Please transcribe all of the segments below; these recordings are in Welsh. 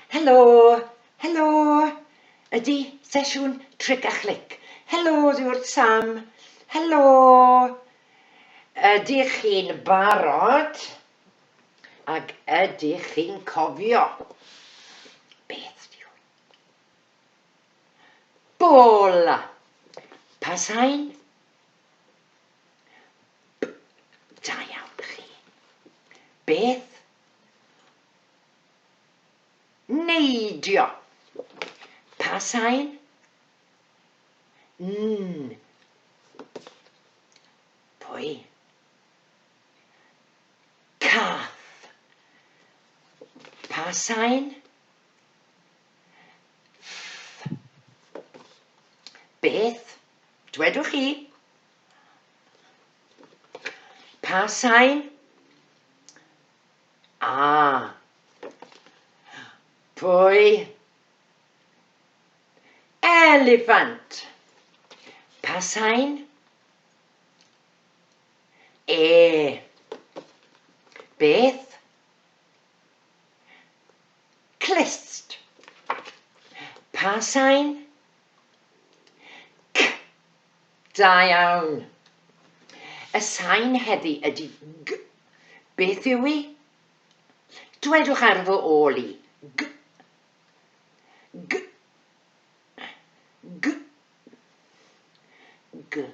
Helo, helo, ydy sesiwn tric a chlic. Helo, dwi wrth Sam. Helo, ydych chi'n barod? Ac ydych chi'n cofio beth dwi oedd? Bola! Pa sain? B. Da iawn chi. Beth? Neidio! Pa sain? N. Pwy? Cath. Pa sain? Ff. Beth? Dwedwch chi. Pa sain? A. Pwy? Elefant. Pa sain? E. Beth? Clust. Pa sain? C. Da iawn. Y sain heddi ydy G. Beth yw i? Dwedwch ar fy ôl i. G. G. G. G.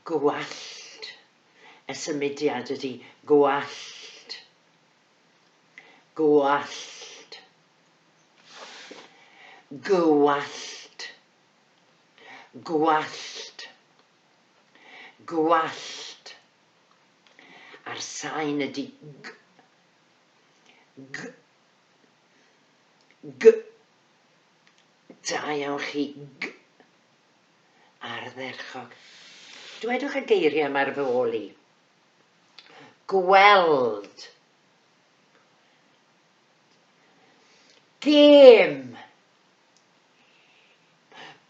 Gwallt, y symudiad ydy gwallt. Gwallt. Gwallt. Gwallt. Gwallt. A'r sain ydy g, g, g. Da iawn chi, g. Ardderchog. Dwedwch y geiriau yma ar fy ôl i. Gweld. Gêm.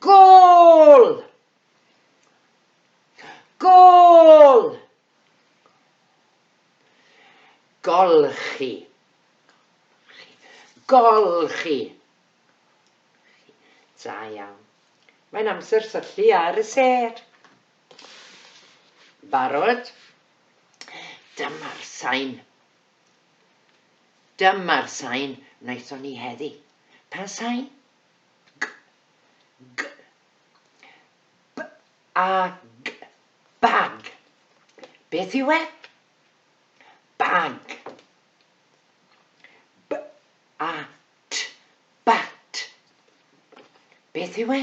Gol! Gol! Golchi. Golchi. Da iawn. Mae'n amser syllu ar y sêr. Barod? Dyma'r sain. Dyma'r sain wnaethon ni heddi. Pa sain? G. G. Bag. Bag. Beth yw e? Bag. Bat. Bat. Beth yw e?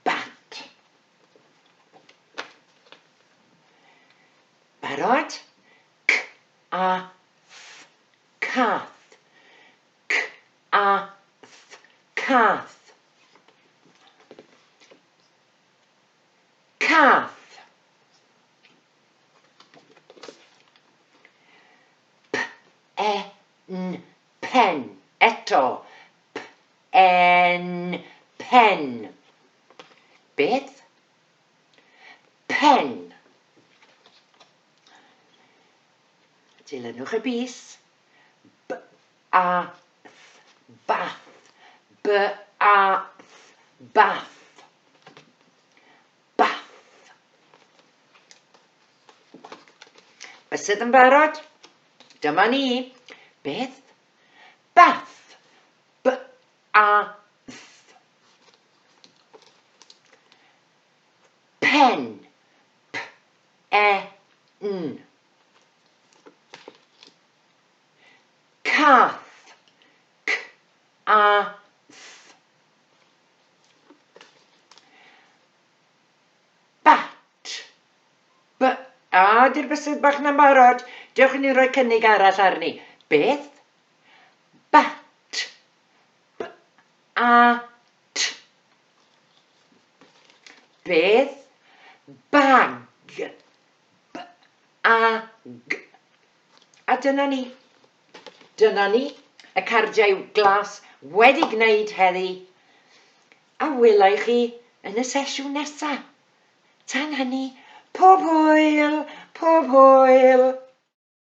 Bat. Barod? Cath. Cath. Cath, cath. Cath. P-e-n, pen. Eto. P-e-n, pen. Beth? Pen. Dilynwch y bys. b a th bath b a th bath bath Bysedd yn barod? Dyma ni. Beth? Bath. B a th. Pen. P e n. Cath, c-a-th. Bat, b-a. A, di'r bysedd bach na'n barod. Dewch i ni roi cynnig arall arni. Beth? Bat, b-a-t. Beth? Bag. B, A, G. A dyna ni. Dyna ni. Y cardiau glas wedi gwneud heddi. A welai chi yn y sesiwn nesa. Tan hynny, pob hwyl, pob hwyl!